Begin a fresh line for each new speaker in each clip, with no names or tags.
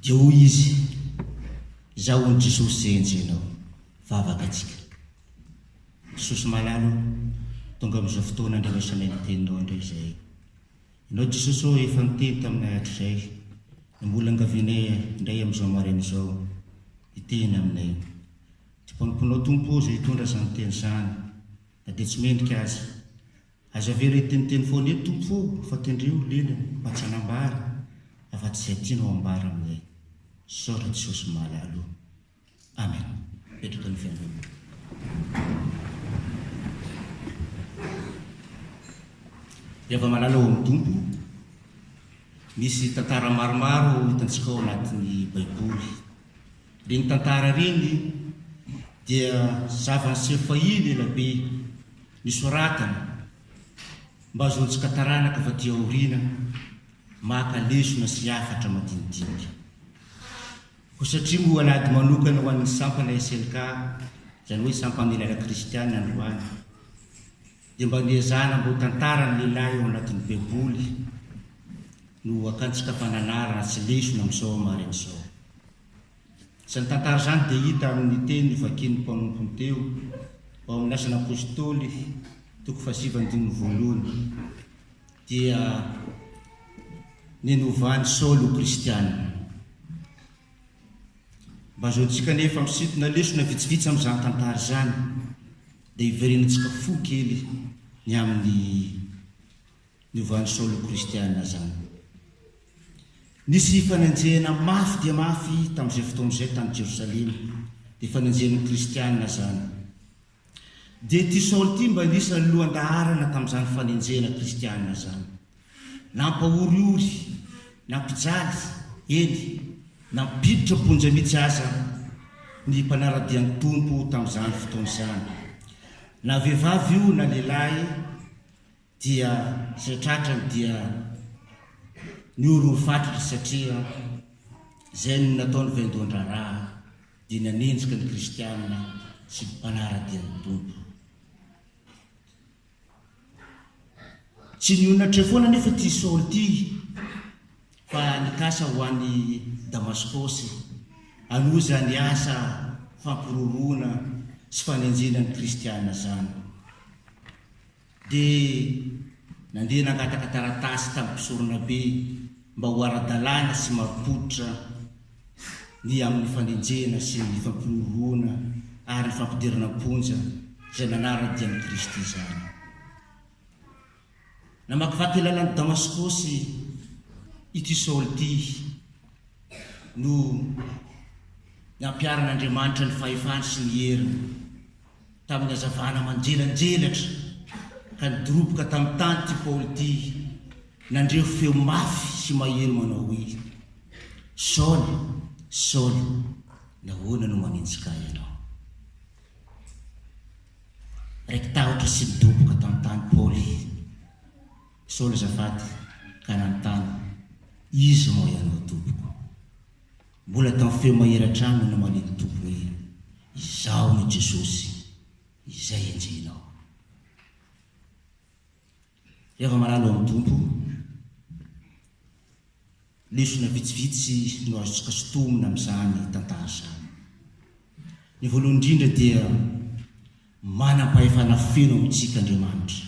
Dia hoy izy, Izaho hono Jesosy izay enjehinao, vavaka tsika. Jesosy malala ô, tonga amin'izao fotoana andrenesanay ny teninao indray izahay. Ianao Jesosy ô efa niteny taminay hatrizay, no mbola angavianay indray amin'izao maraina izao, hiteny aminay. Dia mpanomponao Tompo ô izay hitondra izany teny izany, na dia tsy mendrika aza. Aza avela hiteniteny foana eto Tompo o fa tendreo lelany mba tsy hanambara afa tsy izay tianao ambara aminay sao ry Jesosy mahalala o. Amen. Mipetraka ny Fiangonana. Iava malala ao amin'ny Tompo. Misy tantara maromaro hitantsika ao anatin'ny Baiboly. Ireny tantara ireny dia zava-niseho fahiny ela be nosoratana mba hahazoantsika taranaka avy aty aoriana maka lesona sy hafatra madinidinika. Koa satria moa an'ady manokana ho an'ny sampana SLK, izany hoe Sampan'Ely Ara-Kristiana androany, Dia mba niezahana mba ho tantara ny lehilahy ao anatin'ny baiboly no akantsika fananarana sy lesona amin'izao hamarin' izao. Izany tantara izany dia hita amin'ny teny novakian'ny mpanompony teo ao amin'ny Asan' Apôstôly toko fahasivy andininy voalohany dia ny novan'i Saoly ho kristiana. Mba azahoantsika anefa misintona lesona vitsivitsy amin'izany tantara izany. Dia hiverenantsika fo kely ny amin'ny niovan'i Saoly ho kristiana izany. Nisy fanenjehana mafy dia mafy tamin'izay fotoana izay tany Jerosalema, dia fanenjehana ny kristiana izany. Dia ity Saoly ity mba nisy ny lohan-daharana tamin'izany fanenjehana kristiana izany. Nampahoriory, nampijaly, eny, nampiditra am-ponja mihitsy aza ny mpanara-dia ny Tompo tamin'izany fotoana izany. Na vehivavy io na lehilahy dia izay tratrany dia nihorohoro fatratra satria izay no nataon'ny vaindohan-draharaha dia nanenjika ny Kristianina sy ny mpanara-dia ny Tompo. Tsy nihonatra eo foana anefa ity Saoly ity fa nikasa ho any Damaskosy hanohy izany asa fampiroroana sy fanenjehana ny kristiana izany. Dia nandeha nangataka taratasy tamin'ny mpisoronabe mba ho ara-dalàna sy marim-pototra. ny amin'ny fanenjehana sy ny fampihorohoroana ary fampidirana am-ponja izay manara-dia an'i Kristy izany. Namakivaky lalan'i Damaskosy ity Saoly ity no nampiharan'Andriamanitra ny fahefany sy ny heriny. Tamin'ny hazavana manjelanjelatra ka nidoroboka tamin'ny tany ity Paoly ity, nandre feo mafy sy mahery manao hoe, Saoly, Saoly, nahoana no manenjika ahy ianao? Raiki-tahotra sy nidoboka tamin'ny tany Paoly. Saoly azafady, ka nanontany, Iza moa ianao, Tompoko? Mbola tamin'ny feo mahery hatrany no namalia ny Tompo hoe, Izaho no Jesosy, Izay enjehinao. Ry hava-marary ao amin'ny Tompo, lesona vitsivitsy no azontsika sintomina amin'izany tantara izany. Ny voalohany indrindra dia manam-pahefana feno amintsika Andriamanitra.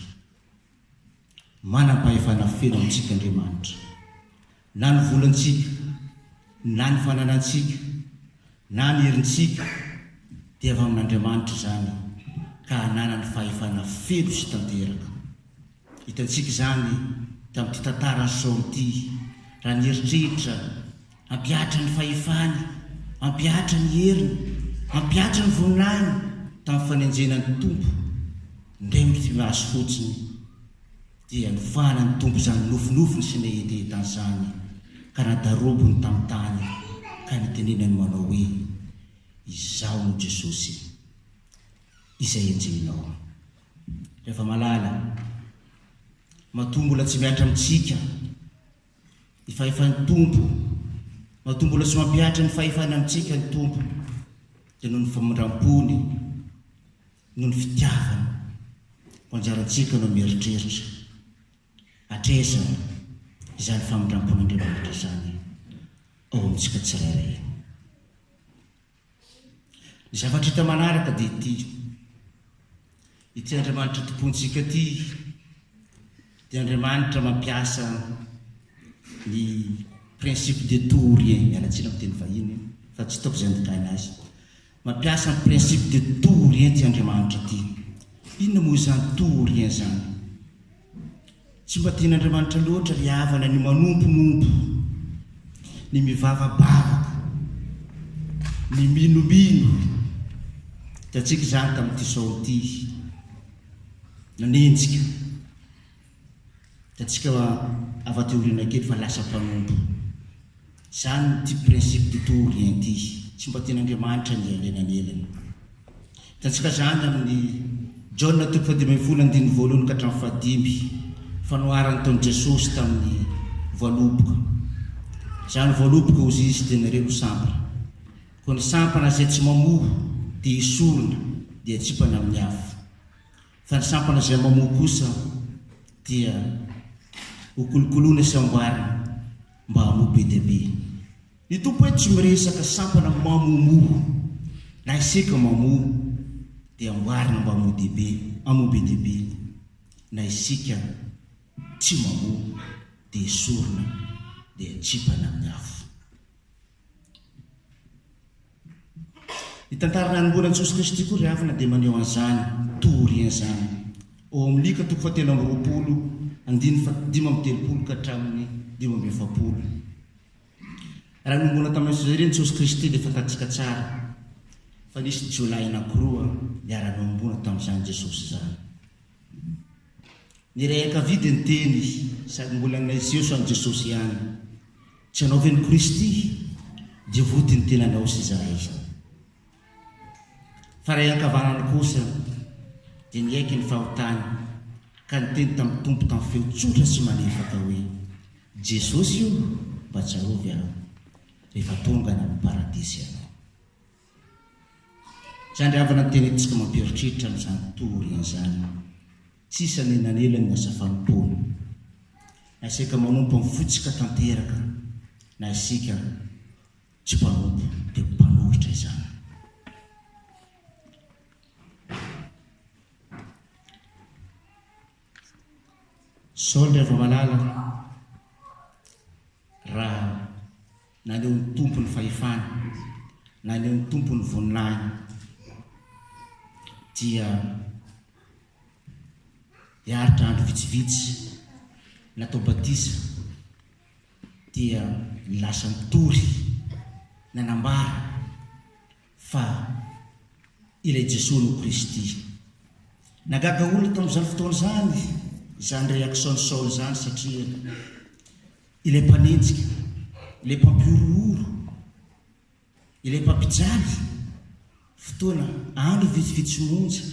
Manam-pahefana feno amintsika Andriamanitra. Na ny volantsika, na ny fananantsika, na ny herintsika, dia avy amin'Andriamanitra izany ka ananany fahefana feno sy tanteraka. Hitantsika izany tamin'ity tantaran'i Saoly ity, raha nieritreritra, Hampihatra ny fahefany, hampihatra ny heriny, hampihatra ny voninahiny. Tamin'ny fanenjena ny Tompo indray mifimaso fotsiny, dia nofahana ny Tompo izany nofinofiny sy nehetehetany izany, ka nadarobony tamin'ny tany, ka nitenenany manao hoe, Izaho no Jesosy, izay enjehinao. Ry hava-malala, matoa mbola tsy mihatra amintsika, Ny fahefan'ny Tompo. Matoa mbola tsy mampihatra ny fahefany amintsika ny Tompo dia noho ny famindrampony, noho ny fitiavany koa anjarantsika no mieritreritra hatraiza izany famindrampon'Andriamanitra izany ao amintsika tsirairay. Ny zavatra hita manaraka dia ity, ity Andriamanitra tompontsika ity dia Andriamanitra mampiasa ny principe de tout ou rien, miala tsiny amin'ny teny vahiny fa tsy hitako izay andikana azy. Mampiasa ny principe de tout ou rien ity Andriamanitra ity. Inona moa izany tout ou rien izany? Tsy mba tian'Andriamanitra loatra ry havana ny manomponompo, ny mivavabavaka, ny minomino. Hitantsika izany tamin'ity Saoly ity. Nanenjika. Hitantsika avy aty aoriana kely fa lasa mpanompo. Izany ity principe de tout ou rien ity. Tsy mba tian'Andriamanitra ny hialena an'elany. Hitantsika izany amin'ny Jaona toko fahadimy ambin'ny folo andininy voalohany ka hatramin'ny fahadimy, fanoharana nataon'i Jesosy tamin'ny voaloboka. Izany voaloboka hozy izy dia nareo no sampana. Koa ny sampana izay tsy mamoa dia esorina dia atsipana amin'ny afo. Fa ny sampana izay mamoa kosa dia ho kolokoloina sy amboarina mba hamoa be dia be. Ny Tompo eto tsy miresaka sampana mamomoa na iseka mamoa dia amboarina mba hamoa dia be, hamoa be dia be, na isika tsy mamoa dia esorina dia atsipana amin'ny afo. Ny tantara nanomboana an'i Jesosy Kristy koa ry havana dia maneho an'izany toa aoriana izany. Ao amin'ny Lika toko fahatelo amby roapolo andininy fahadimy amby telopolo ka hatramin'ny dimy amby efapolo. Raha nomboana tamin'ny fijaliana Jesosy Kristy dia fantatsika tsara fa nisy jiolahy anankiroa niara-nohomboana tamin'izany Jesosy izany. Nirehaka vidy ny teny sady mbola naiseho samy Jesosy ihany. Tsy anao ve ny Kristy? Dia vody ny tenanao sy izahay. Fa ray ankavanany kosa dia niaiky ny fahotany ka niteny tamin'ny Tompo tamin'ny feo tsotra sy malefaka hoe, Jesosy o, mba tsarovy aho rehefa tonga any amin'ny Paradisa ianao. Izany ry havana no tena hetsika mampieritreritra amin'izany tontolo aoriana izany. Tsy isan'ny nanela ny asa fanompoana, na isika manompo amin'ny fotsika tanteraka na isika tsy mpanompo dia mpanohitra izany. Saoly Ravamalala raha Naneho ny Tompo ny fahefany. Naneho ny Tompo ny voninahin Dia hiaritra andro vitsivitsy natao batisa dia ny lasa nitory nanambara fa ilay Jesoa no Kristy. Nagaga olona tamin'izany fotoana izany izany réaction-n'i Saoly izany satria Ilay mpanenjika, ilay mpampihorohoro, ilay mpampijaly fotoana andro vitsivitsy monja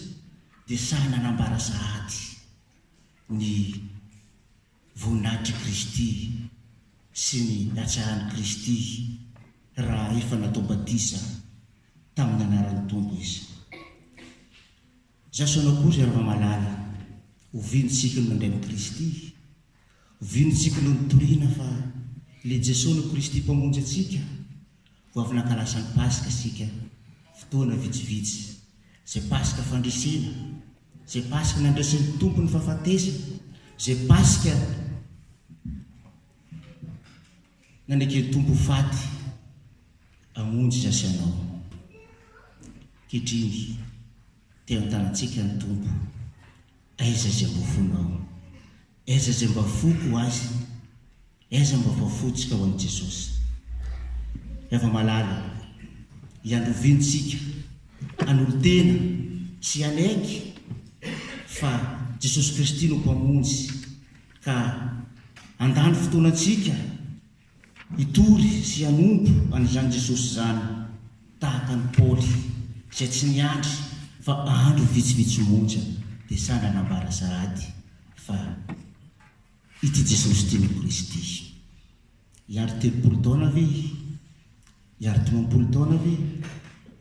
dia sahy nanambara sahady ny voninahitr'i Kristy sy ny hatsaran'i Kristy raha efa natao batisa tamin'ny anaran'ny Tompo izy. Jeso anao koa ry Andriamalala oviano tsikiny mandray an'i Kristy? Oviano tsikiny no nitoriana fa le Jeso no Kristy mpamonjy antsika? Vao avy nankalasa ny Paska isika fotoana vitsivitsy zay Paska fandresena, zay Paska nandraisin'ny Tompo ny fahafatesany, zay Paska. Naneke ny Tompo ho faty hamonjy izaho sy ianao. Ankehitriny, te hanontànantsika ny Tompo, Aiza izay mba fonao? Aiza izay mba foko ho Azy? Aiza mba fafotsika ho an'i Jesosy? Rava malala, iandoviany tsika hanolo-tena sy hanaiky fa Jesosy Kristy no Mpamonjy. Ka handany fotoana antsika hitory sy hanompo an'izany Jesosy izany, tahaka an'i Paoly izay tsy niandry fa andro vitsivitsy monja dia sanga nambara sahady fa ity Jesosy ity no Kristy. Hiandry telopolo taona ve? Hiandry dimampolo taona ve?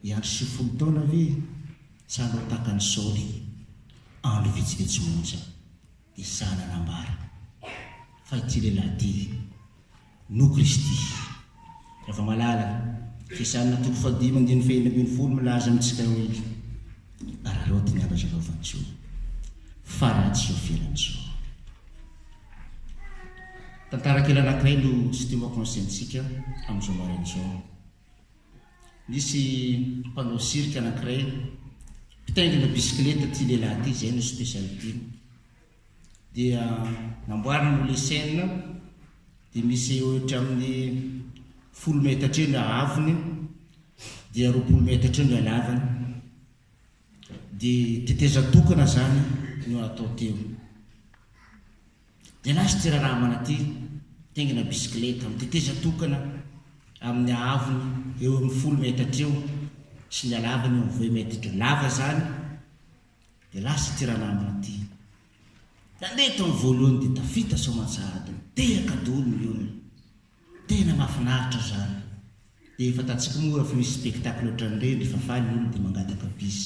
Hiandry sivifolo taona ve? Sa hanao tahaka an'i Saoly andro vitsivitsy monja? I Saha nanambara fa ity lehilahy ity no Kristy. Ravamalala, fiasan'ny toko fahadimy andininy fahenina ambin'ny folo milaza amintsika hoe, Araraoty ny andro azo anaovan-tsoa, fa ratsy izao fiainana izao. Tantara kely anankiray no tsy teo an-konsiaintsika amin'izao maraina izao. Nisy mpanao cirque anankiray mpitaingina bisikileta ity lehilahy ity, izay no spécialité-ny. Dia namboariny io le scène, dia misy eo ohatra amin'ny folo metatra eo ny haavony, dia roapolo metatra eo ny halavany. Dia tetezan-tokana izany no atao teo. Dia lasa ity raharaham-ana ity mitaingina bisikileta, amin'ny tetezana tokana amin'ny haavony eo amin'ny folo metatra eo sy ny halavany eo amin'ny vingt metatra eo. Lava izany, dia lasa ity ranamana ity. Nandeha tamin'ny voalohany dia tafita soamantsahady, nitehaka daholo ny olona. Tena mahafinaritra izany. Dia fantatsika moa raha fa misy spectacle ohatran'ireny, rehefa faly ny olona dia mangataka bis.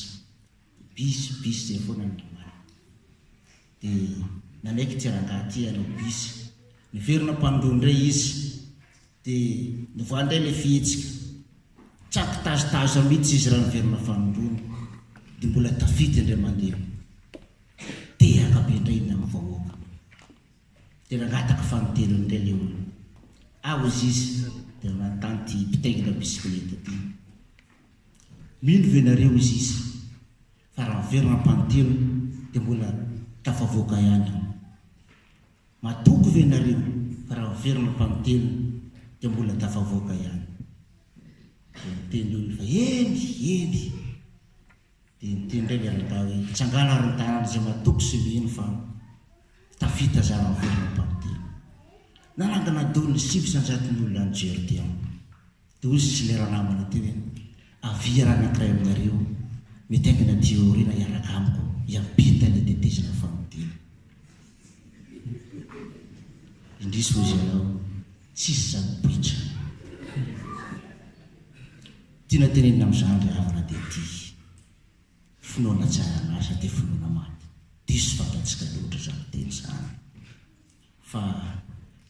Bus bus zay foana ny omaly de nanaiky ity rangahy ity hanao bus, niverina mpandroa indray izy de nivoaha indray ilay fihetsika, tsaky tazotazona mihitsy izy raha niverina fanondroana de mbola tafita indray mandeha, tehaka be indray iny amin'ny vahoaka de nangataka fanintelony indray ilay olona, ah hoy izy de nanontany ity mpitaingina bisikileta ity. Mino ve nareo izy izy fa raha miverina ampanotena dia mbola tafavoaka ihany aho? Matoky ve nareo fa raha miverina ampanotena dia mbola tafavoaka ihany? Dia niteny olona fa eny, eny! Dia niteny indray ilay rangahy hoe mitsangàna ary mitanàna izay matoky sy mino fa tafita za raha miverina ampanotena. Nanangana daholo ny sivy sy anjaton'ny olona any Georgia. Dia hoy izy ilay ranamana teo hoe, Avia raha ny ankiray aminareo mety haingana aty aoriana hiaraka amiko hiampita ny hitetezana famodiana. Indrisy hozy ianao, tsisy izany poitra. Tiana tenenina amin'izany ry havana dia ity, Finoana tsy ara-nasa dia finoana maty. Diso fantatsika loatra izany teny izany. Fa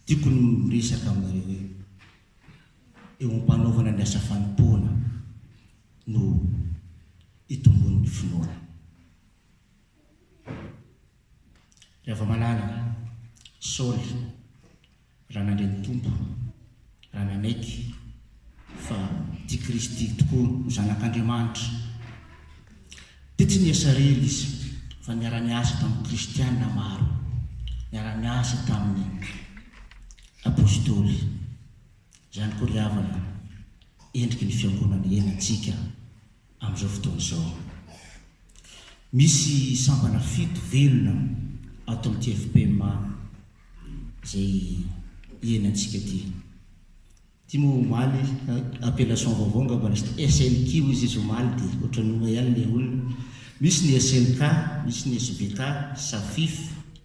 tiako ny miresaka aminareo hoe. eo am-panaovana ny asa fanompoana no itombon'ny finoana. Ry hava-malala, Saoly, raha nandre ny Tompo, raha nanaiky fa ity Kristy ity tokoa no Zanak'Andriamanitra, dia tsy nihasarery izy fa niara-niasa tamin'ny Kristiana maro, niara-niasa taminy. Apostoly. Izany koa ry havana endriky ny fiangonana hiainantsika amin'izao fotoana izao. Misy sampana fito velona ato amin'ity FPMA izay hiainantsika ity. Ity moa omaly, appellation vaovao angamba nisy ity, SNQ izy izy omaly dia ohatran'ny oa ihany ilay olona. Misy ny SNK, misy ny SBK, SAFIF,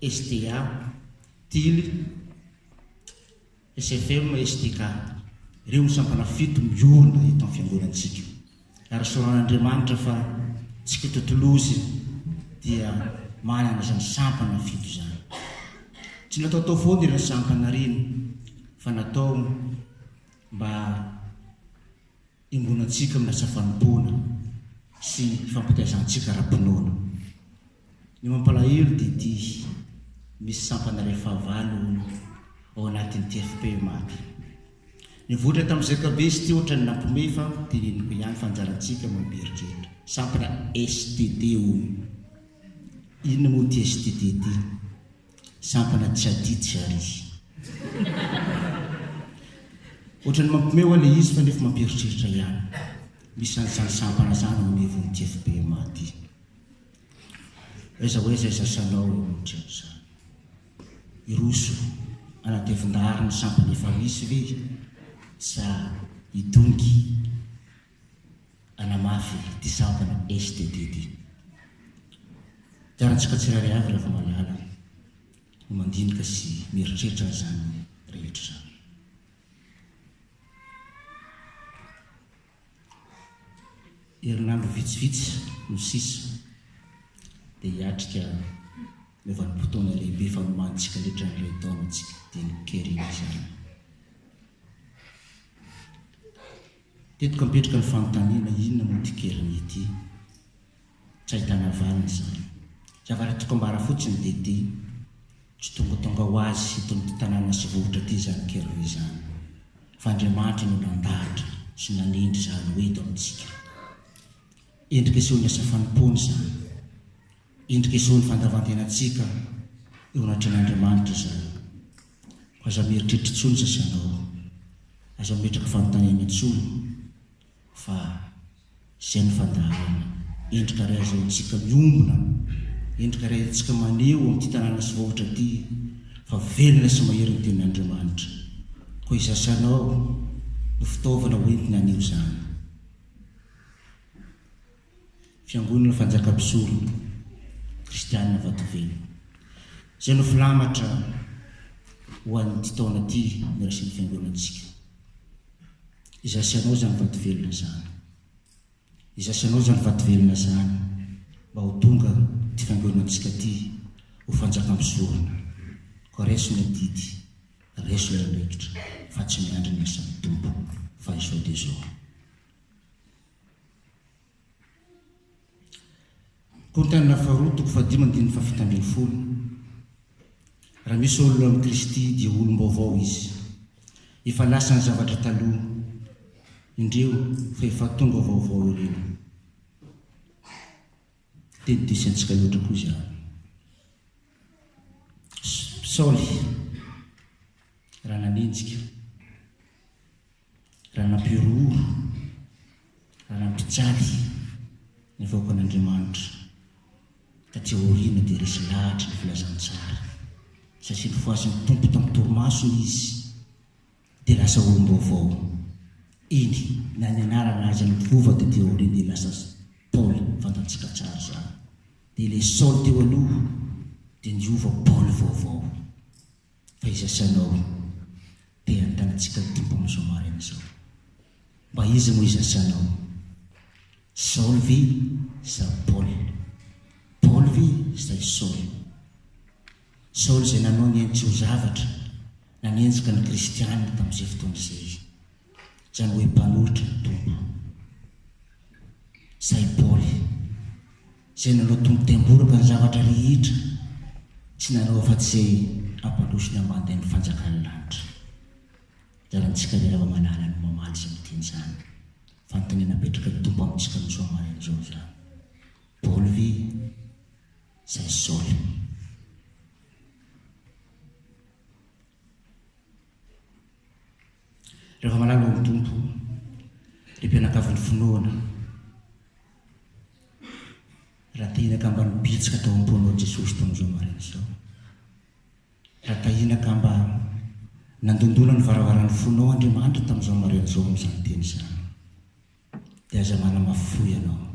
STA, Tily, SFM, SDK. Ireo no sampana fito miorina eto amin'ny fiangonantsika. Ary sorahan'Andriamanitra fa tsy kitontolozy dia manana izany sampana fito izany. Tsy nataotao foana ireny sampana ireny fa natao mba Iombona antsika amin'ny asa fanompoana sy fampitaizantsika ara-pinoana. Ny mampalahelo dia ity, misy sampana iray fahavalo ao anatin'ny TFP maty. Nivoatra tamin'ny Zkbs ity ohatran'ny nampiomehy fa teneniko ihany fa anjarantsika no mieritreritra. Sampana std hono. Inona moa ity std ity? Sampana tsy aditsy ary izy. Ohatrany mampiomehy hoa le izy fa nefa mampieritreritra ihany. Misy an'izany sampana zany ao anivon'ny TFBMA aty. Aiza ho aiza aiza sanao eo amin'ny trano zany. Hiroso anaty evon-dahary ny sampana efa misy ve sa hidongy? hanamafy ity sampana STD ity. Iarahantsika tsirairay avy rehefa malala ny mandinika sy mieritreritra an'izany rehetra izany. Herinandro vitsivitsy no sisa dia hiatrika ny vanim-potoana lehibe fanomantsika letra ny iray taona tsy dinika ery izany. Teto ka mipetraka ny fanontaniana, inona moa ity keriny ity? Tsy ahitana valiny izany. Tsy avaratriko ambara fotsiny dia ity, tsy tongatonga ho azy eto amin'ity tanàna sy vohitra ity izany keriny izany, fa Andriamanitra no nandahatra sy nanendry izany ho eto amintsika. Endrika sehoan'ny asa fanompoana izany. Endrik'izao ny fandavan-tenantsika eo anatrehan'Andriamanitra izany. Koa aza mieritreritra intsony izay sendao. Aza mimetraka fanontaniana intsony fa izay no fandaharana. Endrika iray azahoantsika miombona, endrika iray entintsika maneho amin'ity tanàna tsy voavotra ity fa velona sy mahery ny Tenin'Andriamanitra. Koa izay sendao no fitaovana hoentina haneho izany. Fiangonana Fanjaka Mpisorona Kristianina Vatovelo. Izay no filamatra ho an'ity taona ity niraisin'ny Fiangonantsika. Izaho sy ianao izany vatovelona izany. Izaho sy ianao izany vatovelona izany mba ho tonga ity Fiangonantsika ity ho Fanjaka Mpisorona. Koa raiso ny adidy, raiso ny andraikitra fa tsy miandry ny asan'ny Tompo fa izao dia izao. Korintiana faharoa toko fahadimy andininy fahafito ambin'ny folo Raha misy olona ao amin'i Kristy dia olom-baovao izy. Efa lasa ny zavatra taloha, indreo fa efa tonga vaovao ireo. Teny diso antsika loatra koa izany. Saoly raha nanenjika Raha nampihorohoro, raha nampijaly ny vahoakan'Andriamanitra taty aoriana dia resy lahatra ny filazantsara, satria nofohazin'ny Tompo tamin'ny torimasony izy dia lasa olom-baovao. Eny, na ny anarana aza niova taty aoriana dia lasa Paoly, fantantsika tsara izany. Dia ilay Saoly teo aloha dia niova Paoly vaovao. Taiza sy anao e? Te hanontaniantsika ny Tompo amin'izao maraina izao. Mba iza moa iza sy anao? Saoly ve sa Paoly? Paoly ve sa i Saoly? Saoly izay nanao ny hain-tsy-ho-zavatra nanenjika ny kristiana tamin'izay fotoana izay, izany hoe mpanolotra ny Tompo, sa i Paoly? Izay nanao tompotemboraka ny zavatra rehetra tsy nanao afa tsy izay hampandroso ny ambandain'ny fanjakan'ny lanitra. Anjarantsika ry Ravamalala no mamaly sy miteny izany. Fanontaniana apetraky ny Tompo amintsika misoa maraina izao izany. Paoly ve sa Saoly? Rehefa malala ao amin'ny Tompo ry mpianakavin'ny finoana, raha tahinaka mba nibitsika tao am-ponao i Jesosy tamin'izao maraina izao, raha tahinaka mba nandondona ny varavaran'ny fonao Andriamanitra tamin'izao maraina izao amin'izany teny izany, Dia aza manamafy fo ianao.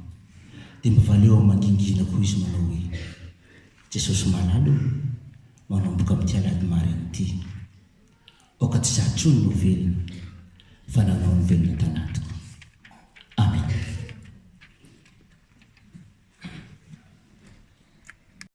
Dia mba valeo amin'ny mangingina koa izy manao hoe, Jesosy malala o, manomboka amin'ity alahady maraina ity, aoka tsy izaho intsony no ho velona, fa nanao ny velona tanatiko. Amena.